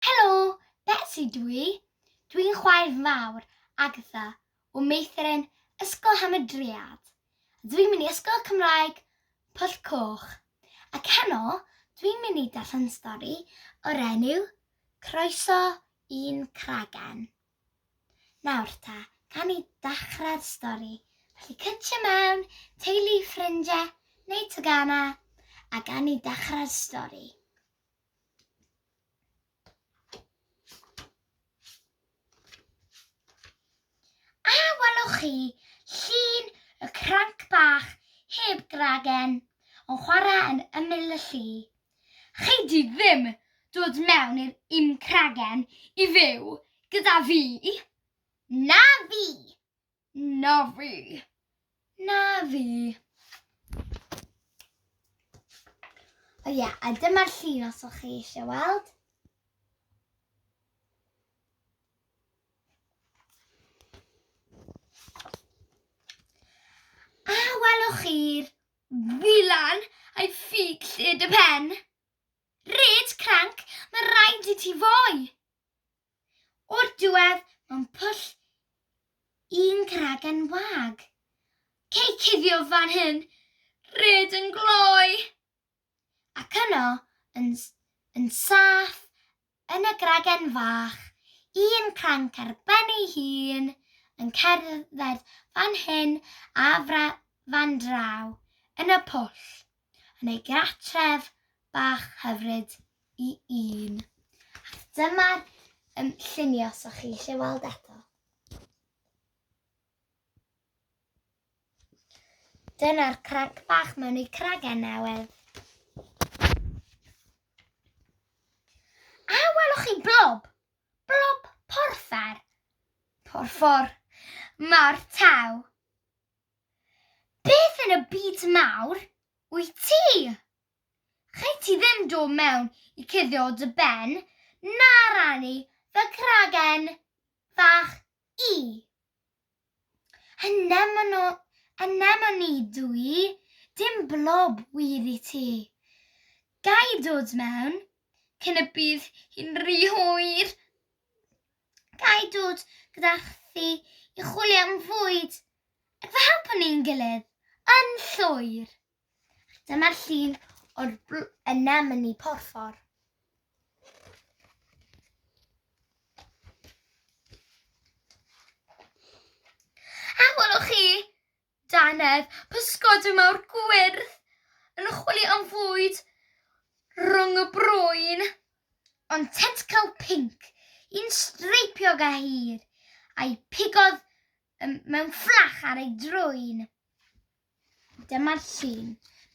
Helo! Betsi dw i. Dw i'n chwaer fawr, Agatha, o meithrin Ysgol Hamadryad. A dw i'n mynd i Ysgol Cymraeg Pwll Coch. Ac heno, dw i'n mynd i darllen stori o'r enw Croeso i'n Cragen. Nawr ta, gawn ni ddechrau'r stori. Felly cytio mewn, teulu, ffrindie, neu tegana, a gawn ni ddechrau'r stori. A welwch chi llun y cranc bach heb gragen yn chwarae yn ymyl y lli? Chei di ddim dod mewn i'r un cragen i fyw gyda fi! Na fi! Na fi. Na fi. O ie, yeah, a dyma'r llun os o'ch chi eisiau weld. A welwch chi'r wylan a'i ffug lled y pen. Red cranc, mae rhaid i ti fwy. O'r diwedd, mewn pwll un cragen wag. Cei cuddio fan hyn, ryd yn gloi! Ac yno, yn, yn saff, yn y gragen fach, un cranc ar ben ei hun, yn cerdded fan hyn a fra, fan draw, yn y pwll. yn ei gartref bach hyfryd i un. Ac dyma'r um, lluniau os o'ch chi eisiau weld eto. Dyna'r cranc bach mewn i cragen newydd. A welwch chi blob? Blob porffor. Porffor. Mae'r taw. Beth yn y byd mawr wyt ti? Rhaid ti ddim dod mewn i cuddio o dy ben na rannu fy cragen fach i. Anemono, anemoni dw i, dim blob wir i ti. Ga i dod mewn, cyn y bydd hi'n rhy hwyr? Ga i dod gyda chdi i chwilio am fwyd ac fe helpwn ni'n gilydd yn llwyr. Dyma'r llun o'r bl- anemone porffor. A welwch chi, Dannedd, pysgodyn mawr gwyrdd yn chwilio am fwyd rhwng y brwyn, ond tentcyl pinc, un streipiog a hir, a'i pigodd mewn fflach ar ei drwyn. Dyma'r llun.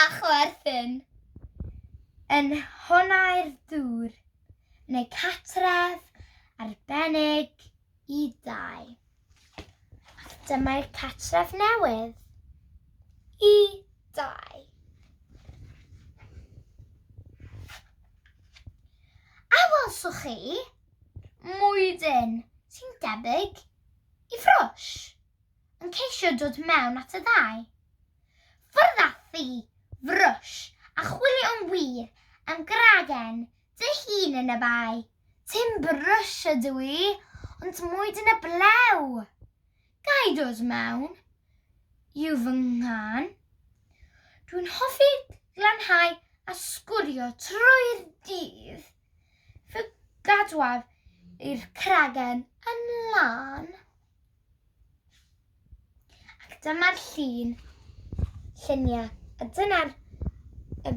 a chwerthin yn nhonnau'r dŵr, yn eu cartref arbennig i dai. Ac dyma'r cartref newydd i dai. A welsoch chi mwydyn sy'n debyg i ffrosh? yn ceisio dod mewn at y ddau. Ffwrdd â thi, frwsh, a chwilio'n wir am gragen dy hun yn y bae. Tim brwsh ydw i, ond mwyd yn y blew! Ga i dod mewn? Yw fy nghân. Dwi'n hoffi glanhau a sgwrio trwy'r dydd. Fy gadwaf i'r cragen yn lân. Ac dyma'r llun, lluniau, a dyna'r y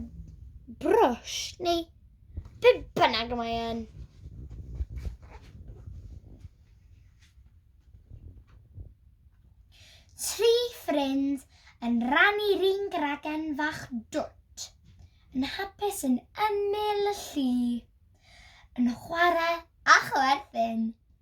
brwsh, neu be bynnag y mae yn. Tri ffrind yn rannu'r un gragen fach dwt, yn hapus yn ymyl y llu, yn chwarae a chwerthin.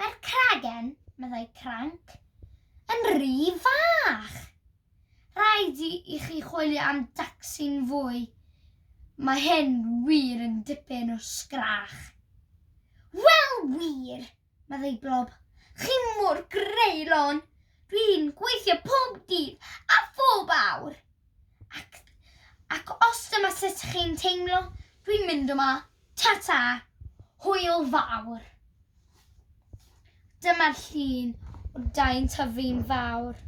Mae'r cragen, meddai Cranc, yn rhy fach. Rhaid i, i chi chwilio am dacsi'n fwy. Mae hyn wir yn dipyn o sgrach. Wel wir, meddai Blob. Chi mor greulon. Dwi'n gweithio pob dydd a phob awr. Ac, ac os dyma sut chi'n teimlo, dwi'n mynd yma. Ta-ta! Hwyl fawr! Dyma'r llun o dai'n tyfu'n fawr.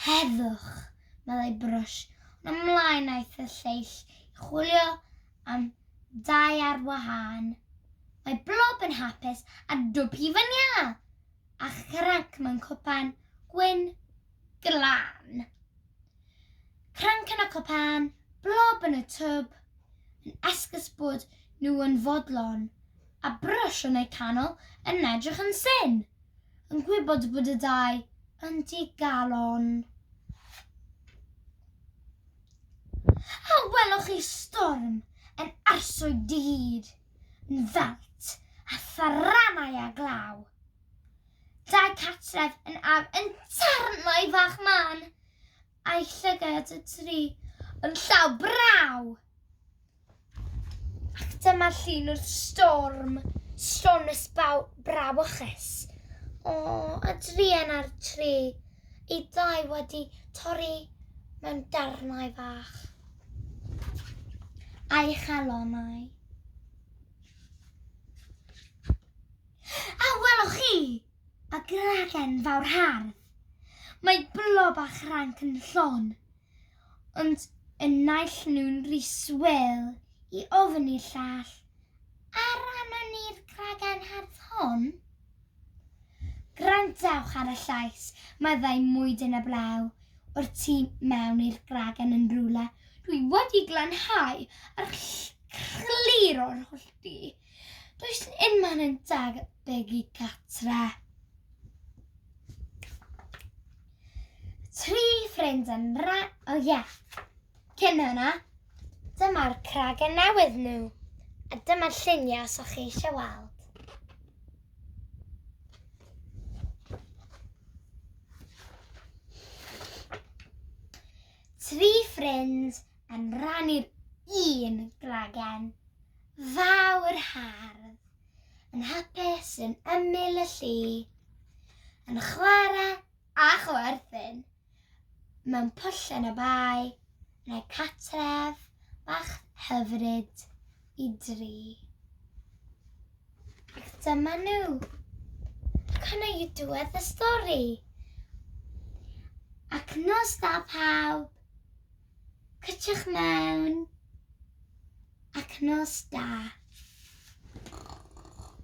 Heddwch, meddai Brwsh, ond ymlaen aeth y lleill i chwilio am dai ar wahân. Mae Blob yn hapus a Dwb hi fan iâ, a Chranc mewn cwpan gwyn glân. Cranc yn y cwpan, Blob yn y twb, yn esgus bod nhw yn fodlon, a Brwsh yn eu canol yn edrych yn syn, yn gwybod bod y dau yn digalon. A welwch chi storm yn arswyd dy hyd, yn ddant a tharanau a glaw. Dau catref yn ar yn darnau fach man, a'i llygad y tri yn llaw braw. Ac dyma llun o'r storm, storm ysbaw brawychus. O, a drien ar tri, ei dau wedi torri mewn darnau fach. A'i chalonau. A welwch chi, y gragen fawr hardd. Mae blob a chranc yn llon. Ond y naill nhw'n rhy swil i ofn i'r llall, A rannon ni'r gragan hardd hon? Gwrandewch ar y llais, meddai Mwyd yn y Blew, o'r tu mewn i'r gragan yn rhywle. Dwi wedi glanhau ar clir o'r hollti. Does yn unman yn dag begi gatre. Tri ffrind yn ra... O oh, ie. Yeah. Cyn hwnna, dyma'r cragen newydd nhw. A dyma'r lluniau os o'ch chi eisiau weld. Tri ffrind yn rannu'r un gragen fawr hardd, yn hapus yn ymyl y llu, yn chwarae a chwerthin mewn pwllen y bae, yn ei catref bach hyfryd i dri. Ac dyma nhw. Cynna i diwedd y stori. Ac nos da pawb. Cliciwch mewn ac nos da.